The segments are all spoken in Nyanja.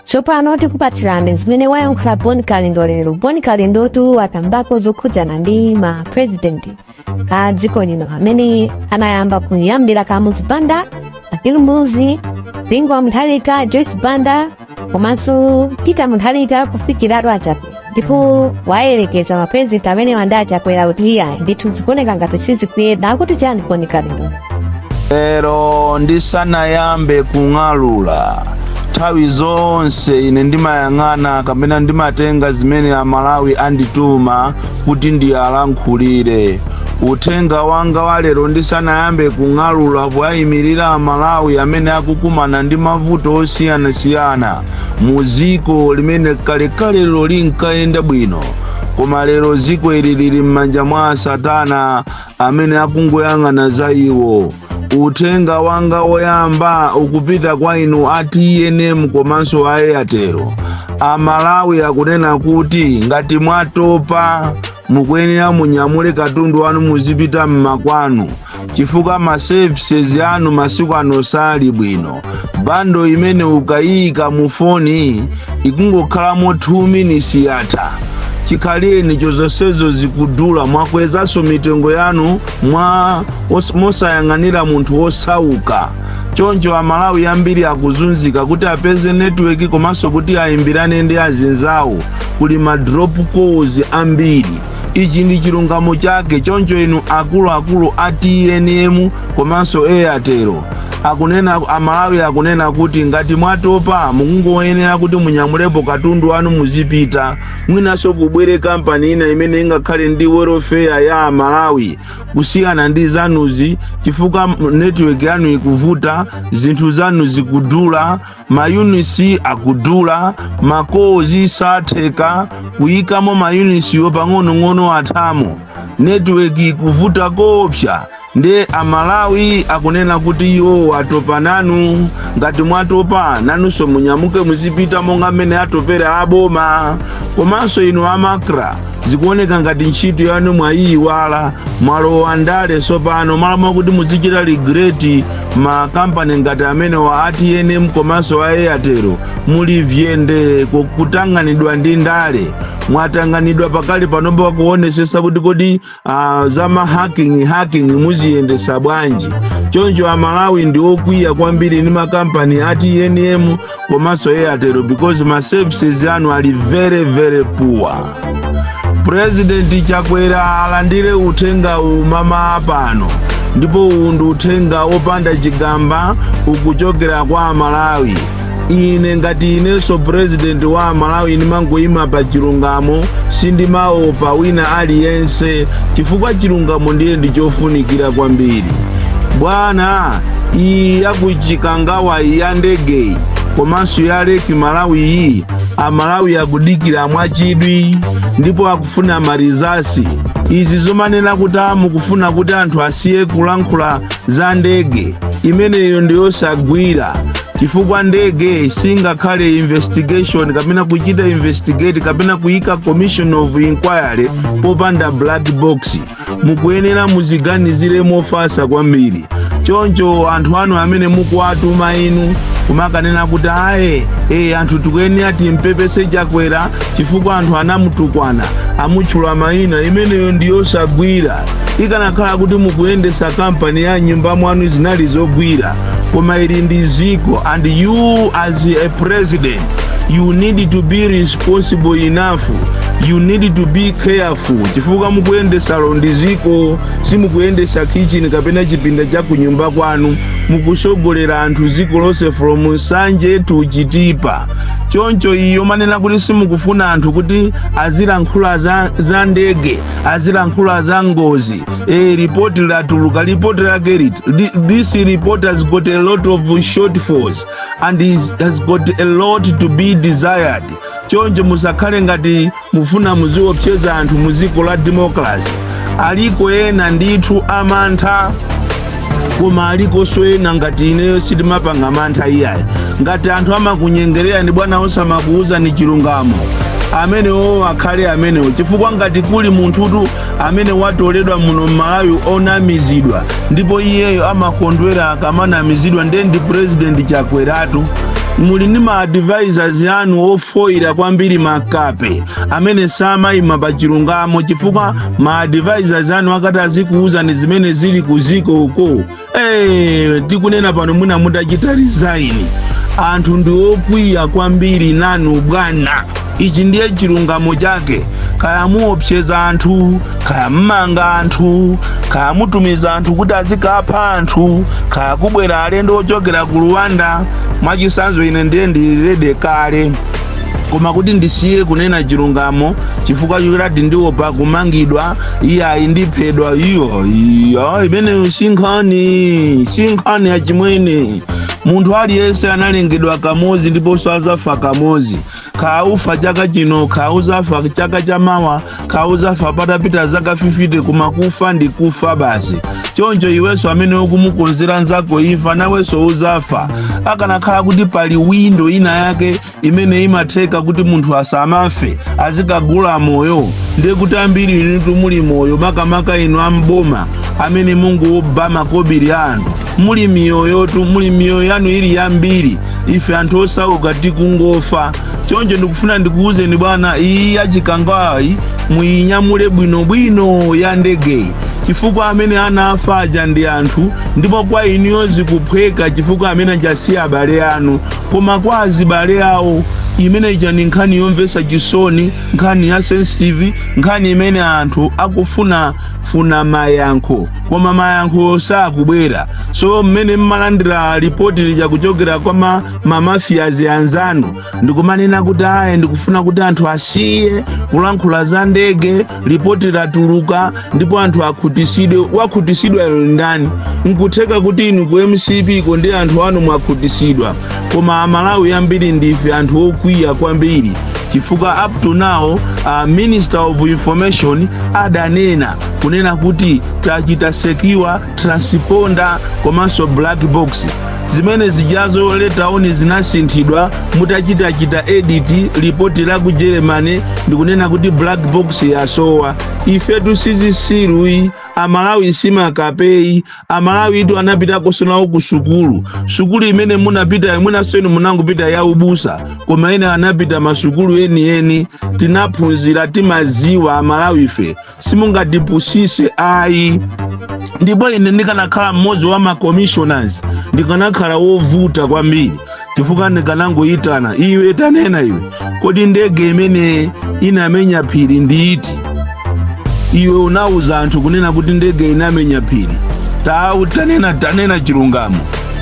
tsopano tikupatsirani zimene wayankhula bon kalindo lero bon kalindotu watambako zokhudzana ndi ma president a dziko lino amene anayamba kuyambira kamuzu banda bakili muluzi bingu wa mutharika joyce banda komanso peter mutharika kufikiratu achape ndipo wayerekeza ma president amenewa ndi achakwera kuti ayi ndithu zikuoneka ngati sizikuyenda akuti chani bon kalindo lero ndisanayambe kung'alula nthawi zonse ine ndimayang'ana kapena ndimatenga zimene amalawi andituma kuti ndiyalankhulire uthenga wanga wa lero ndisanayambe kung'alula powayimirira amalawi amene akukumana ndi mavuto osiyanasiyana mu dziko limene kalekalelo linkayenda bwino koma lero dziko ili lili m'manja mwa asatana amene akungoyang'ana za iwo uthenga wanga woyamba ukupita kwa inu a tnm komanso a airtel amalawi akunena kuti ngati mwatopa mukuyenera munyamule katundu wanu muzipita m'makwanu chifukwa ma services anu masiku ano sali bwino bando imene ukayika mu foni ikungokhalamo 2 minutes yatha chikhaleni chozonsezo zikudula mwakwezanso mitengo yanu mwa mosayang'anira munthu wosauka choncho amalawi ambiri akuzunzika kuti apeze netiweki komanso kuti ayimbirane ndi azinzawo kuli ma drop calls ambiri ichi ndi chilungamo chake choncho inu akuluakulu a tnm komanso a airtel amalawi akunena kuti ngati mwatopa mukungoyenera kuti munyamulepo katundu wanu muzipita mwinanso kubwere kampani ina imene ingakhale ndi welfare ya amalawi kusiyana ndi zanuzi chifukwa network yanu ikuvuta zinthu zanu zikudula mayunisi akudula ma calls satheka kuyikamo mayunisiwo pang'onong'ono athamo network ikuvuta koopsa nde amalawi akunena kuti iwowo atopa nanu ngati mwatopa nanunso munyamuke muzipita monga mmene atopera aboma komanso inu a macra zikuoneka ngati ntchito yanu mwayiyiwala mwalowa ndale tsopano malo mwakuti muzichita regulate ma kampani ngati amenewa a tnm komanso a airtel muli vyende ku- kutanganidwa ndi ndale mwatanganidwa pakali panopo pakuonesesa kuti kodi za ma hacking hacking muziyendesa bwanji choncho amalawi ndi okwiya kwambiri ndi makampani a tnm komanso airtel because ma services anu ali very very poor purezidenti chakwera alandire uthenga umama pano ndipo uwu ndi uthenga wopanda chigamba ukuchokera kwa amalawi ine ngati inenso purezidenti wa amalawi ndimangoyima pa chilungamo sindimaopa wina aliyense chifukwa chilungamo ndiye ndi chofunikira kwambiri bwana iyi ya ku chikangawa iyi ya ndegeyi komanso ya lake malawi iyi amalawi akudikira mwachidwi ndipo akufuna ma results izi zomanena kuti mukufuna kuti anthu asiye kulankhula za ndege imeneyo ndiyosagwira chifukwa ndege singakhale investigation kapena kuchita investigate kapena kuyika commission of inquiry popanda black box mukuyenera muziganizira mofatsa kwambiri choncho anthu anu amene mukuwatuma inu kumakanena kuti aye e anthu tikuyenera timpepese chakwera chifukwa anthu anamutukwana amutchula mayina imeneyo ndiyosagwira ikanakhala kuti mukuyendesa kampani ya m'nyumba mwanu zinali zogwira koma ili ndi dziko and you as a president you need to be responsible ponsible enough you need to be careful chifukwa mukuyendesa ili ndi dziko simukuyendesa kitchen kapena chipinda cha kunyumba kwanu mukusogolera anthu dziko lonse from nsanje to chitipa choncho iyi yomanena kuti simukufuna anthu kuti azilankhula za, za ndege azilankhula za ngozi e, ripoti latuluka ripoti lake liti Thi- this report has got a lot of shortfalls and it has got a lot to be desired choncho musakhale ngati mufuna muziopseza anthu mu dziko la democracy aliko ena ndithu amantha koma alikonso ena ngati ineyo sitimapanga mantha iyayi ngati anthu amakunyengererani bwana osamakuuzani chilungamo amenewo akhale amenewo chifukwa ngati kuli munthutu amene watoleredwa muno m'malawi onamizidwa ndipo iyeyo amakondwera akamanamizidwa ndiye ndi purezidenti chakweratu muli ndi ma advisors anu ofoyira kwambiri makape amene samayima pa chilungamo chifukwa ma advisors anu akanati azikuwuzani zimene zili ku dziko uko Eh, ndikunena pano mwina munachita resign anthu ndi okwiya kwambiri nanu bwana ichi ndiye chilungamo chake kaya muopseza anthu kaya mumanga anthu kaya mutumiza anthu kuti azikapha anthu kaya kubwera alendo ochokera ku rwanda mwachisanzo ine ndiye ndili ready kale koma kuti ndisiye kunena chilungamo chifukwa choti ndiopa kumangidwa iyayi ndiphedwa iyo iyo imeneyo sinkhani sinkhani yachimwene munthu aliyense analengedwa kamodzi ndiponso azafa kamodzi kaya ufa chaka chino kaya uzafa chaka cha mawa kaya uzafa patapita zaka 50 koma kufa ndi kufa basi choncho iwenso amene ukumukonzera nzako imfa nawenso uzafa akanakhala kuti pali windo ina yake imene imatheka kuti munthu asamafe azikagula moyo ndiye kuti ambiri inu muli moyo makamaka inu am'boma amene mukungoba makobiri a anthu muli miyoyotu muli miyoyo yanu ili yambiri ife anthu osauka tikungofa choncho ndikufuna ndikuwuzeni bwana iyi ya Chikangawayi muyinyamule bwinobwino ya ndegeyi chifukwa amene anafa aja ndi anthu ndipo kwa inuyo zikuphweka chifukwa amene anasiya abale anu Koma kwa azibale awo, imene ija ndi nkhani yomvetsa chisoni, nkhani ya sensitive, nkhani imene anthu akufuna funa mayankho, koma mayankhowo sakubwera. So mmene mmalandira lipoti lija kuchokera kwa ma, ma mafias anzanu, ndikumanena kuti ayi ndikufuna kuti anthu asiye kulankhula za ndege, lipoti latuluka ndipo anthu akhutisidwe wakhutisidwayo ndi ndani nkutheka kuti inu ku mcp ko ndi anthu anu mwakhutisidwa koma amalawi ambiri ndife anthu okwiya kwambiri chifukwa up to now uh, minister of information adanena kunena kuti tachita secure transponder komanso black box zimene zijazo later on zinasinthidwa mutachitachita edit lipoti la ku germany nkunena kuti black box yasowa ifetu sizisiruyi amalawi simakapeyi amalawitu anapita konso nawo ku sukulu sukulu imene munapitayo mwinanso inu munangopita ya ubusa koma ena anapita masukulu enieni tinaphunzira timaziwa amalawife simungatipusise ayi ndipo ine ndikanakhala mmodzi wa macommissioners ndikanakhala wovuta kwambiri chifukwa ndikanangoyitana iwe tanena iwe kodi ndege imene inamenya phiri ndi iti iwe unawuza anthu kunena kuti ndege inamenya phiri tawu tanena tanena chilungamo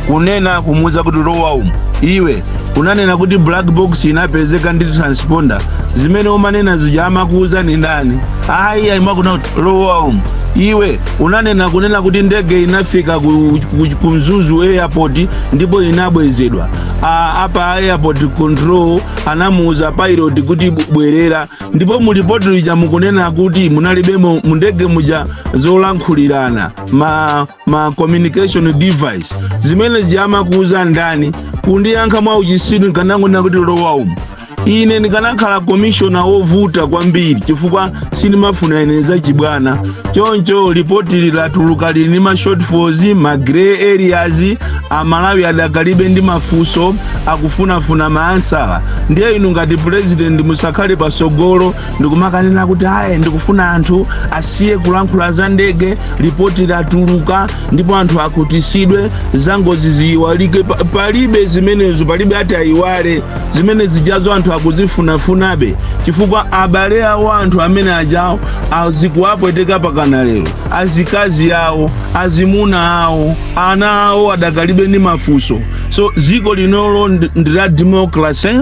kunena kumuuza kuti lowa umu iwe unanena kuti black box inapezeka ndi transponder zimene umanena zija amakuuzani ndani ayi ayimakuna kuti lowa umu iwe unanena kunena kuti ndege inafika ku, ku, ku mzuzu airport ndipo inabwezedwa A- apa airport control anamuuza pilot kuti bu- bwerera ndipo mulipoti lija mukunena kuti munalibemo mundege muja zolankhulirana ma ma communication device zimene zija amakuuza ndani kundiyankha mwa uchisiru ndikanangonena kuti lowa umu ine ndikanakhala komishona wovuta kwambiri chifukwa sindimafuna ine zachibwana choncho lipoti latuluka lili ndi ma shortfalls ma grey areas amalawi adakalibe ndi mafunso akufunafuna ma answer ndiye inu ngati purezidenti musakhale patsogolo ndikumakanena kuti ayi ndikufuna anthu asiye kulankhula za ndege lipoti latuluka ndipo anthu akhutitsidwe za ngozi ziyiwalike Pa- palibe zimenezo palibe ati ayiwale zimene zijazo anthu akuzifunafunabe chifukwa abale awo anthu amene ajawo azikuwapweteka pakana lero azikazi awo azimuna awo ana awo adakalibe ndi mafunso so dziko linolo ndi ndi la democracy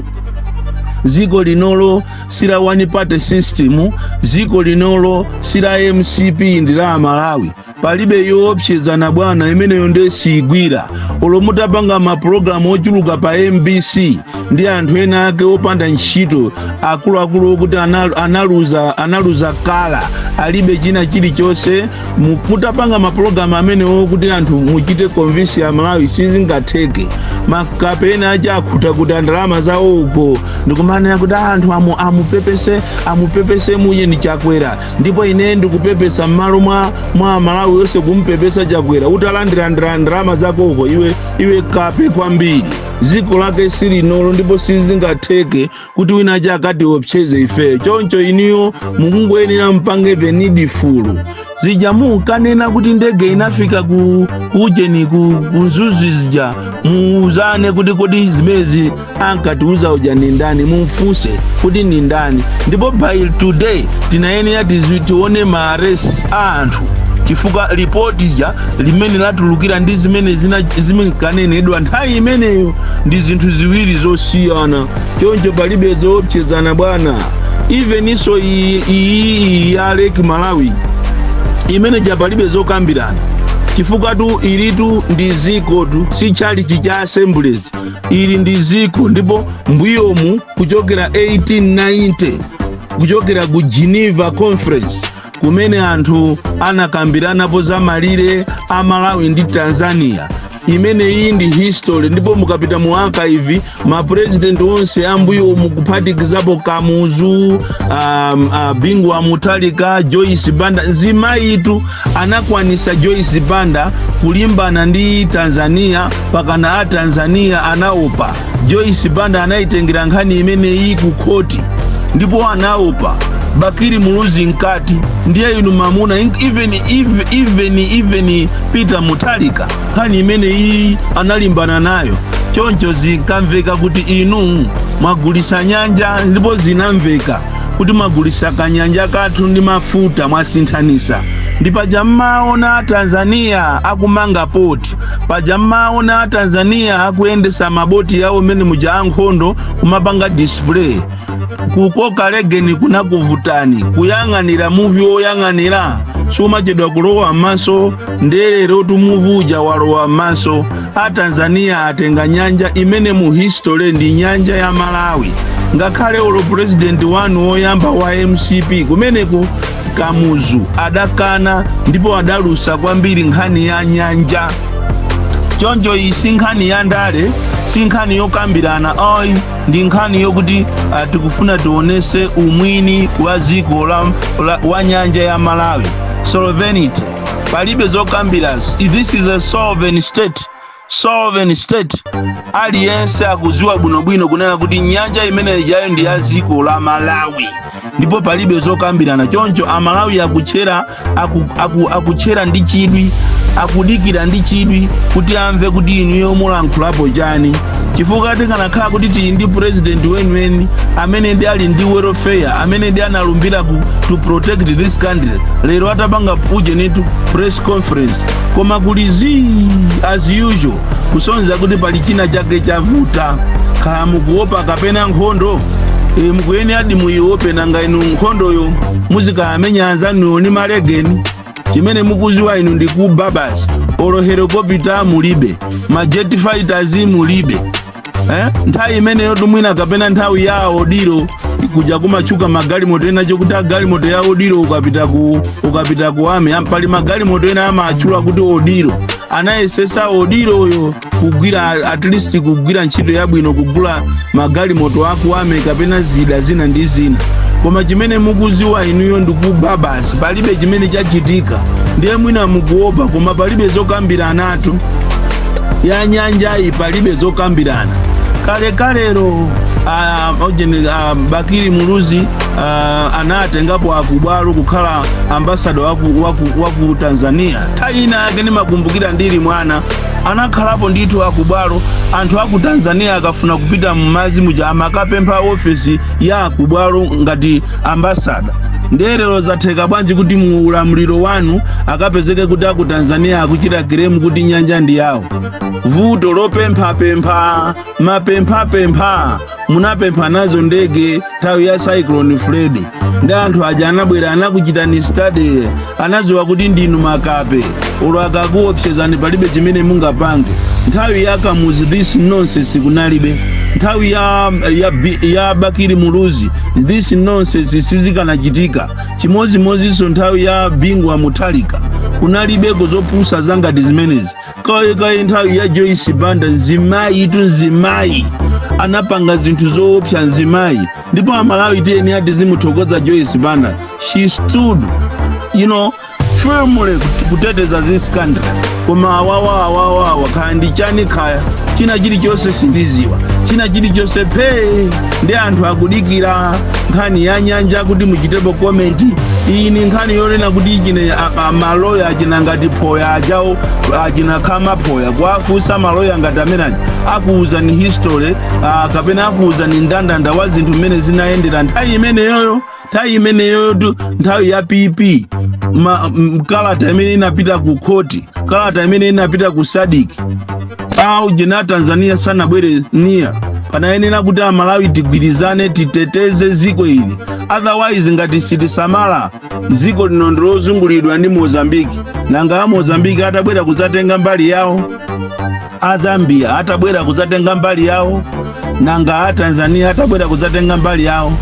dziko linolo sila one party system dziko linolo sila mcp ndi la amalawi palibe zoopsezana bwana imeneyo nde siigwira olo mutapanga mapulogalamu ochuluka pa mbc ndi anthu ena ake opanda ntchito akuluakulu okuti anal- analuza analuza kala alibe china chilichonse Mu- mutapanga mapulogalamu amenewo kuti anthu muchite convince amalawi sizingatheke makape ena aja akhuta kuti a ndalama zawo uko ndikumanena kuti anthu amu amupepese amupepese mwini chakwera ndipo ine ndikupepesa m'malo mwa mwa amalawi onse kumupepesa chakwera utalandirandira ndalama zakoko iwe iwe kape kwambiri dziko lake silinolo ndipo sizingatheke kuti wina achaka atiopseze ifeyo choncho inuyo mukungoyenera mupange the needful zija munkanena kuti ndege inafika ku kujeni ku ku mzuzu zija muuzane kuti kodi zimenezi ankatiuza uja ni ndani mumfunse kuti ni ndani ndipo by today tinayenera tizi- tione ma arrest a anthu chifukwa lipoti lija limene latulukali ndi zimene zina- zinkanenedwa nthawi imeneyo ndi zinthu ziwiri zosiyana choncho palibe zoopsezana bwana even issue iyi iyi ya lake malawi imene ija palibe zokambirana chifukwatu ilitu ndi dzikotu si chalichi cha assemblies ili ndi dziko ndipo mbuyomu kuchokera 1890 kuchokera ku geneva conference kumene anthu anakambiranapo za malire a malawi ndi tanzania imeneyi ndi history ndipo mukapita mu archive mapurezidenti onse ambuyo umu kuphatikizapo kamuzu um, uh, bingu wa mutharika joyce banda mzimayitu anakwanisa joyce banda kulimbana ndi tanzania pakana a tanzania anaopa Joyce Banda anayitengera nkhani imeneyi ku khoti ndipo anaopa Bakili Muluzi mkati ndiye inu mamuna in- even even even, even Peter Mutharika nkhani imeneyi analimbana nayo choncho zinkamveka kuti inu mwagulisa nyanja ndipo zinamveka kuti mwagulisa kanyanja kathu ndi mafuta mwasinthanisa ndi pache mmaona a Tanzania akumanga poti paja mumaona a tanzania akuyendesa maboti yawo mene muja ankhondo kumapanga display kukoka legeni kunakuvutani kuyang'anira muvi woyang'anira sumachedwa kulowa m'maso ndelerotu muvi uja walowa m'maso a tanzania atenga nyanja imene mu history ndi nyanja ya malawi ngakhale olo purezidenti wanu woyamba wa mcp kumeneko Kamuzu adakana ndipo adalusa kwambiri nkhani ya nyanja. Choncho iyi si nkhani ya ndale, si nkhani yokambirana ayi, ndi nkhani yokuti ah, tikufuna tionese umwini wa dziko la, la, wa nyanja ya Malawi. Sovereignty. Palibe zokambirana. This is a sovereign state. sovereign state aliyense akuziwa bwinobwino kunena kuti nyanja imene ijayo ndi ya dziko la malawi ndipo palibe zokambirana choncho amalawi akutchera aku, aku, akutchera ndi chidwi akudikira ndi chidwi kuti amve kuti inuyo mulankhulapo chani chifukwa tikanakhala kuti tili ndi president weniweni amenedi ali ndi welfare amenedi analumbira to protect this country lero atapanga ujenitu press conference koma kuli zii as usual kusonza kuti pali china chake chavuta kaya mukuopa kapena nkhondo e, mukuyeneradi muiope nanga inu nkhondoyo muzikayamenya anzanuyo ni malegeni chimene mukuziwa inu ndi kuba basi olo helikopita mulibe ma jet fighters mulibe eh? nthawi imeneyo tu mwina kapena nthawi ya Odilo kuja kumatchuka magalimoto ena chakuti galimoto ya Odilo ukapita ku ukapita ku ami am- pali magalimoto ena amatchula kuti Odilo anayesesa Odiloyo kugwira at least kugwira ntchito yabwino kugula magalimoto aku army kapena zida zina ndi zina koma chimene mukuziwa inuyo ndikuba basi palibe chimene chachitika ndiye mwina mukuopa koma palibe zokambirana yathu ya nyanjayi palibe zokambirana kalekalero ah, ujeni, ah, bakili muluzi ah, anatengapo akubwalo kukhala ambasada waku, waku, waku tanzania nthawi ina yake ndimakumbukira ndili mwana anakhalapo ndithu akubwalo anthu aku tanzania akafuna kupita mmazi muja amakapempha ofesi ya akubwalo ngati ambasada ndiye lero zatheka bwanji kuti mu ulamuliro wanu akapezeke kuti aku tanzania akuchita kiremu kuti nyanja ndi yawo vuto lopemphapempha mapemphapempha munapempha nazo ndege nthawi ya cyclone freddy ndi anthu aja anabwera anakuchitani study anadziwa kuti ndinu makape olo akakuopsezani palibe chimene mungapange nthawi ya kamuzu this nonsense kunalibe nthawi ya, ya, Bi- ya bakiri muluzi this nonsense sizikanachitika chimodzimodzinso nthawi ya bingu wa mutharika kunalibeko zopusa zangati zimenezi kaye kaye nthawi ya joyce banda nzimayi itu nzimayi anapanga zinthu zoopsa nzimayi ndipo amalawi tiyeni tizimuthokoza joyce banda she stood you know firmly kut- kuteteza this country koma awawa awawa awa kaya ndi chani kaya china chilichonse sindiziwa china chilichonse phee ndi anthu akudikira nkhani ya nyanja kuti muchitepo komenti iyi ni nkhani yonena kuti chine a- a- maloya achina ngati phoya ajawo achina khama phoya kuwafunsa maloya ngati amene aja akuwuzani history uh, kapena akuwuzani ndandanda wa zinthu mmene zinayendera nthawi imeneyoyo nthawi imeneyoyotu nthawi ya pp ma, m, kalata imene inapita ku khoti kalata imene inapita ku sadik aujeni tanzania sanabwere ndiye panayenera kuti amalawi tigwirizane titeteze ziko ili otherwise ngati sitisamala ziko lino ndilozungulidwa ndi mozambiki nanga a mozambiki atabwera kudzatenga mbali yawo a zambia atabwera kudzatenga mbali yawo nanga a tanzania atabwera kudzatenga mbali yawo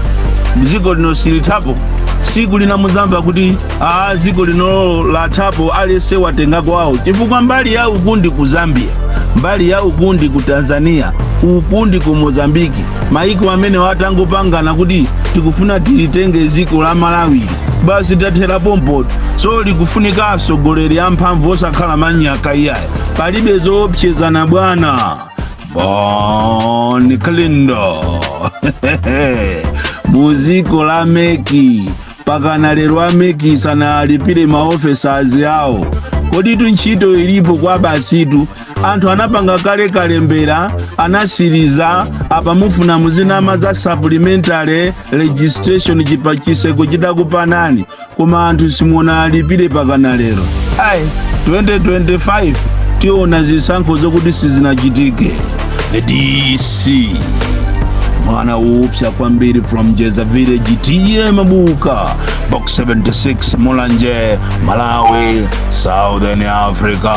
dziko lino silithapo siku lina muzamva kuti aa dziko lino lathapo aliyense watenga kwawo chifukwa mbali ya uku ndi ku zambia mbali ya uku ndi ku tanzania uku ndi ku mozambiki maiko amenewa atangopangana kuti tikufuna tilitenge dziko la malawi basi tathera pompotu so likufunika atsogoleri amphamvu osakhala manyaka iyayi palibe zoopsezana bwana bon kalindo muziko a meki pakana lero ameki sanalipire maofesazi awo koditu ntchito ilipo kwa basitu anthu anapanga kale kalembera anatsiriza apa mufuna muzinama za supplementary registration chipatiseko chitakupanani koma anthu simunawalipire mpakana lero ayi 2025 tiona zisankho zokuti sizinachitike dc mwana upsa kwambiri from jeza village ta mabuka box 76 mulanje malawi southern africa